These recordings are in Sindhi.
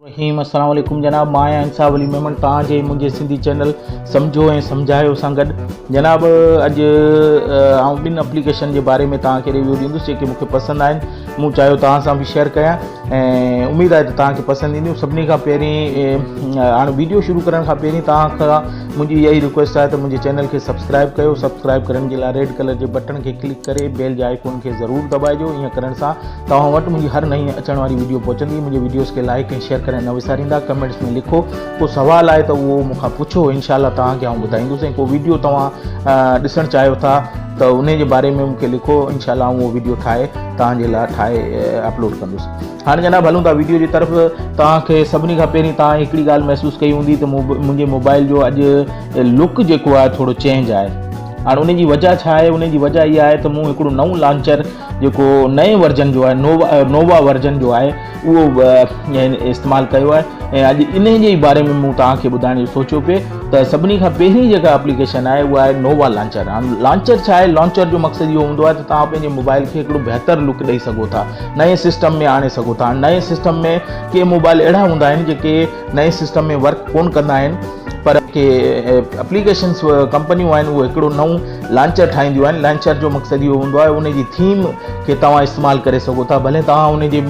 رحيم السلام عليڪم جناب مان آهيان انصاف علي ميمڻ توهان جي منهنجي سنڌي چينل سمجهو ۽ سمجهايو سان گڏ جناب اڄ آئون ٻن اپليڪيشن جي باري ۾ توهان کي ريويو ڏيندس جيڪي مون کي پسند آهن مون چاهيو توهان سان به شيئر ڪيان اميد آهي ته توهان کي پسند اينديون سڀني کان پهرين هاڻ ويڊيو شروع ڪرڻ کان پهرين توهان کان منهنجي اها ئي رڪويسٽ آهي ته منهنجي چينل کي سبسڪرائب ڪيو سبسڪرائب ڪرڻ جي لاء ريڊ ڪلر جي بٽڻ کي ڪلڪ ڪري بيل جي آئيڪون کي ضرور دٻائجو ايئن ڪرڻ سان توهان وٽ منهنجي هر نئين اچڻ واري ويڊيو پهچندي منهنجي ويڊيوز کي لائڪ ۽ شيئر ڪرڻ نه وساريندا ڪمينٽس ۾ لکو ڪو سوال آهي ته اهو مون کان پڇو انشاءالله توهان کي آئون ٻڌائيندس ۽ ڪو ويڊيو توهان ڏسڻ چاهيو ٿا ته انهي جي باري ۾ مون کي لکو انشاء الله آئون اهو ويڊيو ٺاهي توهان جي لاء ٺاهي اپلوڊ ڪندس هاڻي جناب هلون ٿا ويڊيو جي طرف توهان کي سڀني کان پهرين توهان هڪڙي ڳالهه محسوس ڪئي هوندي ته منهنجي موبائل جو اڄ لڪ جيڪو آهي ٿورو چينج آهي هاڻي ان جي وجهه ڇا آهي ان جي وجهه اها آهي ته مون هڪڙو نئون لانچر جيڪو نئين ورجن جو آهي نووا ورجن جو آهي اهو استعمال ڪيو آهي ۽ اڄ انهي جي باري ۾ مون توهان کي ٻڌائڻ جو سوچيو پي ته سڀني کان پهرين جيڪا اپليڪيشن آهي اها آهي نووا لانچر هاڻ لانچر ڇا آهي لانچر جو مقصد اهو هوندو آهي ته توهان پنهنجي موبائل کي هڪڙو بهتر لڪ ڏئي سگهو ٿا نئين سسٽم ۾ آڻي سگهو ٿا نئين سسٽم ۾ ڪي موبائل اهڙا هوندا آهن جيڪي نئين سسٽم ۾ ورڪ ڪون ڪندا آهن پر ڪي اپليڪيشنس ڪمپنيون آهن اهو هڪڙو نئون لانچر ٺاهينديون آهن لانچر جو مقصد اهو هوندو آهي ان جي ٿيم کي توهان استعمال ڪري سگهو ٿا ڀلي توهان ان جي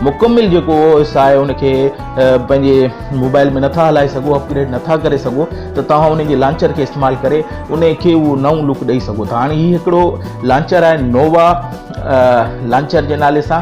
مڪمل جيڪو او ايس آهي ان کي پنهنجي موبائل ۾ نٿا هلائي سگهو اپگريڊ نٿا ڪري سگهو ته توهان ان جي لانچر کي استعمال ڪري ان کي اهو نئون لوڪ ڏئي سگهو ٿا هاڻي هي هڪڙو لانچر آهي نووا لانچر جي نالي سان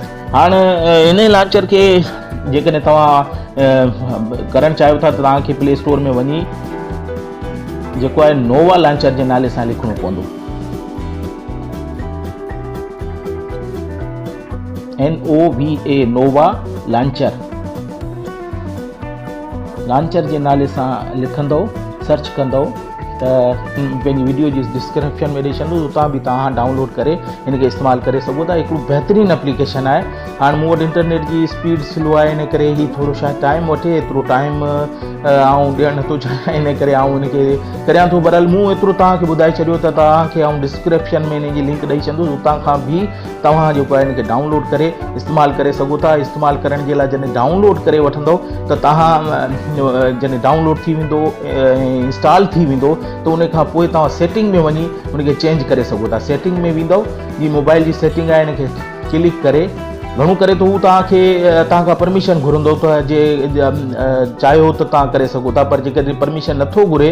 هاڻ انهي لانچر کي جيڪڏهن توهان ڪرڻ چاهيو ٿا ته توهان کي پلي اسٽور ۾ وڃي جيڪو آهي نووا لانچر جي نالي سان لکڻو پوندو N O V A Nova launcher launcher جي نالي سان لکندو سرچ ڪندو ته پنهنجي ويڊيو جي ڊسڪرپشن ۾ ڏئي ڇڏيندس اتان به توهان ڊائونلوڊ ڪري هن کي استعمال ڪري سگهو ٿا هڪڙو بهترين اپليڪيشن آهي هاڻ مون وٽ انٽرنيٽ جي اسپيڊ سلو آهي ان ڪري هي ٿورو شايد ٽائيم وٺي ايترو ٽائيم آئون ڏيڻ نٿو چاهيان ان ڪري آئون ان کي ڪريان ٿو برحال مون ايترو توهان کي ٻڌائي ڇڏيو ته توهان کي آئون ڊسڪرپشن ۾ ان جي لنڪ ڏئي ڇڏيندس اتان کان به توهان جيڪو آهي ان کي ڊائون لوڊ ڪري استعمال ڪري سگهو ٿا استعمال ڪرڻ جي لاء جڏهن ڊائون لوڊ ڪري وٺندو ته توهان جڏهن ڊائون لوڊ ٿي ويندو انسٽال ٿي ويندو ته ان کان پوء توهان سيٽنگ ۾ وڃي ان کي چينج ڪري سگهو ٿا سيٽنگ ۾ ويندو جي موبائل جي سيٽنگ آهي ان کي ڪلڪ ڪري گهڻو ڪري ته هو توهان کي توهان کان پرميشن گهرندو ته جي چاهيو ته توهان ڪري سگهو ٿا پر جيڪڏهن پرميشن نٿو گهري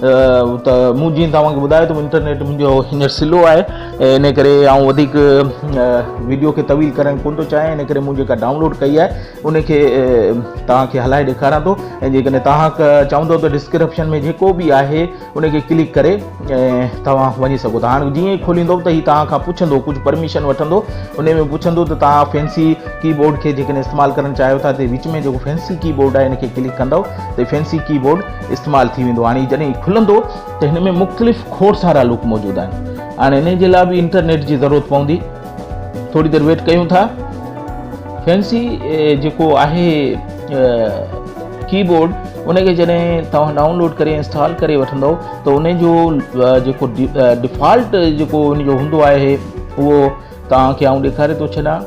ته مون جيئن توهان کي ٻڌايو ته انٽرنيٽ منهنجو هينئر سلو آهي ان ڪري آئون وڌيڪ ويڊيو کي طويل ڪرڻ ڪونه ٿو چاهيان ان ڪري مون جيڪا ڊائونلوڊ ڪئي آهي ان کي توهان کي هلائي ڏيکاران ٿو ۽ جيڪڏهن توهان چاهندو ته ڊسڪرپشن ۾ جيڪو به آهي ان کي ڪلڪ ڪري توهان وڃي سگهو ٿا هاڻي جيئن ئي کوليندو ته هي توهان کان پڇندو ڪجهه پرميشن وٺندو ان ۾ پڇندو ته توهان فينسي ڪي بورڊ کي جيڪڏهن استعمال ڪرڻ چاهيو ٿا ته وچ ۾ جيڪو فينسي ڪي بورڊ آهي ان کي ڪلڪ ڪندو ته فينسي ڪي بورڊ استعمال ٿي ويندو هاڻي جڏهن هي کلندو ته هن ۾ مختلف کوڙ سارا لوپ موجود آهن هاڻي انهي جي لاء به انٽرنيٽ جي ضرورت پوندي ٿوري دير ويٽ ڪيون ٿا فينسي جيڪو آهي ڪيبورڊ ان کي جڏهن توهان ڊائونلوڊ ڪري انسٽال ڪري وٺندو ته ان جو جيڪو ڊيفالٽ جيڪو ان جو هوندو آهي اهو توهان کي آئون ڏيکاري ٿو ڇڏان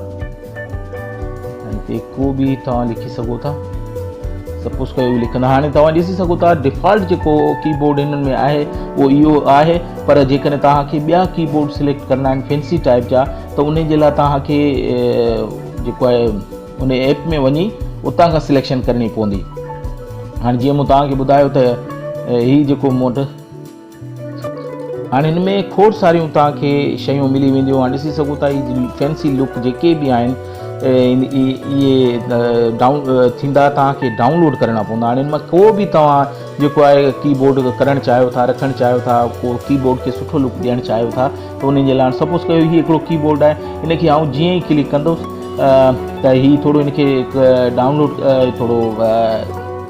۽ تي ڪو به توهان لکي سگهو ٿا سپوز ڪيو به لکندا هاڻي توهان ڏسي سگهو ٿا ڊيفالٽ جيڪو ڪي بورڊ هنن ۾ آهي اهو اهو آهي پر جيڪڏهن توهان کي ٻيا ڪي بورڊ سليڪٽ ڪرڻا آهن فينسي ٽائپ جا ته ان جي لاء توهان کي جيڪو آهي ان ايپ ۾ وڃي اتان کان سليڪشن ڪرڻي پوندي هاڻي جيئن مون توهان کي ٻڌايو ته هي جيڪو مون وٽ هاڻي هن ۾ کوڙ ساريون توهان کي شيون ملي وينديون اوهان ڏسي سگهو ٿا هي فينسي لڪ جيڪي به آهن اهي ڊائون ٿيندا توهان کي ڊائونلوڊ ڪرڻا پوندا هاڻي هن مان ڪو به توهان جيڪو آهي ڪي بورڊ ڪرڻ چاهيو ٿا رکڻ چاهيو ٿا ڪو ڪي بورڊ کي سٺو لڪ ڏيڻ چاهيو ٿا ته ان جي لاء سپوز ڪيو هي هڪڙو ڪي بورڊ آهي ان کي آئون جيئن ئي ڪلڪ ڪندوس ته هي ٿورو ان کي ڊائونلوڊ ٿورو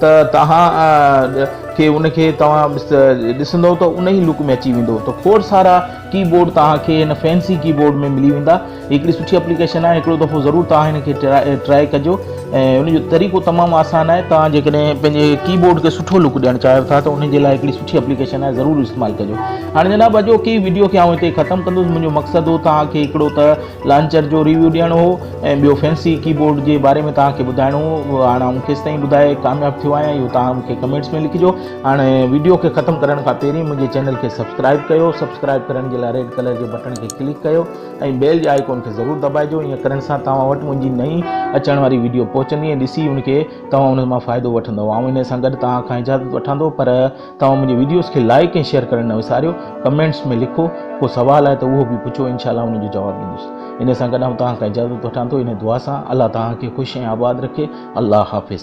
ته توهان کي ان کي توهان ڏسندو ته ان ئي لڪ ۾ اچي ويندو ته کوڙ سارا ڪي بورڊ توهان کي هن فينسي ڪي بورڊ ۾ ملي ويندا هڪڙي سٺي اپليڪيشن آهي هڪڙو دفعو ضرور توهان هن کي ٽرائي ڪجو ۽ ان جو طريقو تمام آسان آهي توهان جيڪڏهن پنهنجي ڪي بورڊ کي سٺو لڪ ڏيڻ چاهيو ٿا ته ان جي لاء هڪڙي سٺي اپليڪيشن آهي ضرور استعمال ڪجو هاڻي جناب اڄوڪي ويڊيو کي آئون هتي ختم ڪندس منهنجو مقصد هو توهان کي هڪڙو ته لانچر جو ريويو ڏيڻو هو ۽ ٻيو فينسي ڪيبورڊ جي باري ۾ توهان کي ٻڌائڻو هو هاڻ آئون کيستائين ٻڌائي ڪامياب ٿيو آهيان اهو توهان مون کي ڪمينٽس ۾ لکجو هاڻ ويڊيو کي ختم ڪرڻ کان پهرين منهنجي چينل کي سبسڪرائب ڪيو سبسڪرائب ڪرڻ جي لاء ريڊ ڪلر جي بٽڻ کي ڪلڪ ڪيو ۽ بيل جي آئيڪون کي ضرور دٻائجو ائين ڪرڻ سان توهان وٽ منهنجي نئين اچڻ واري ويڊيو پهچندي ۽ ڏسي ان کي توهان ان مان فائدو وٺندو آئون ان سان گڏ توهان کان اجازت وٺان ٿو پر توهان منهنجي ويڊيوز کي لائيڪ ۽ شيئر ڪرڻ نه وساريو ڪمينٽس ۾ لکو ڪو سوال آهي ته اهو به پڇو انشاء الله ان جو جواب ڏيندس ان سان گڏ آئون توهان کان اجازت وٺان ٿو ان دعا سان الله توهان کي خوش ۽ آباد رکي الله حافظ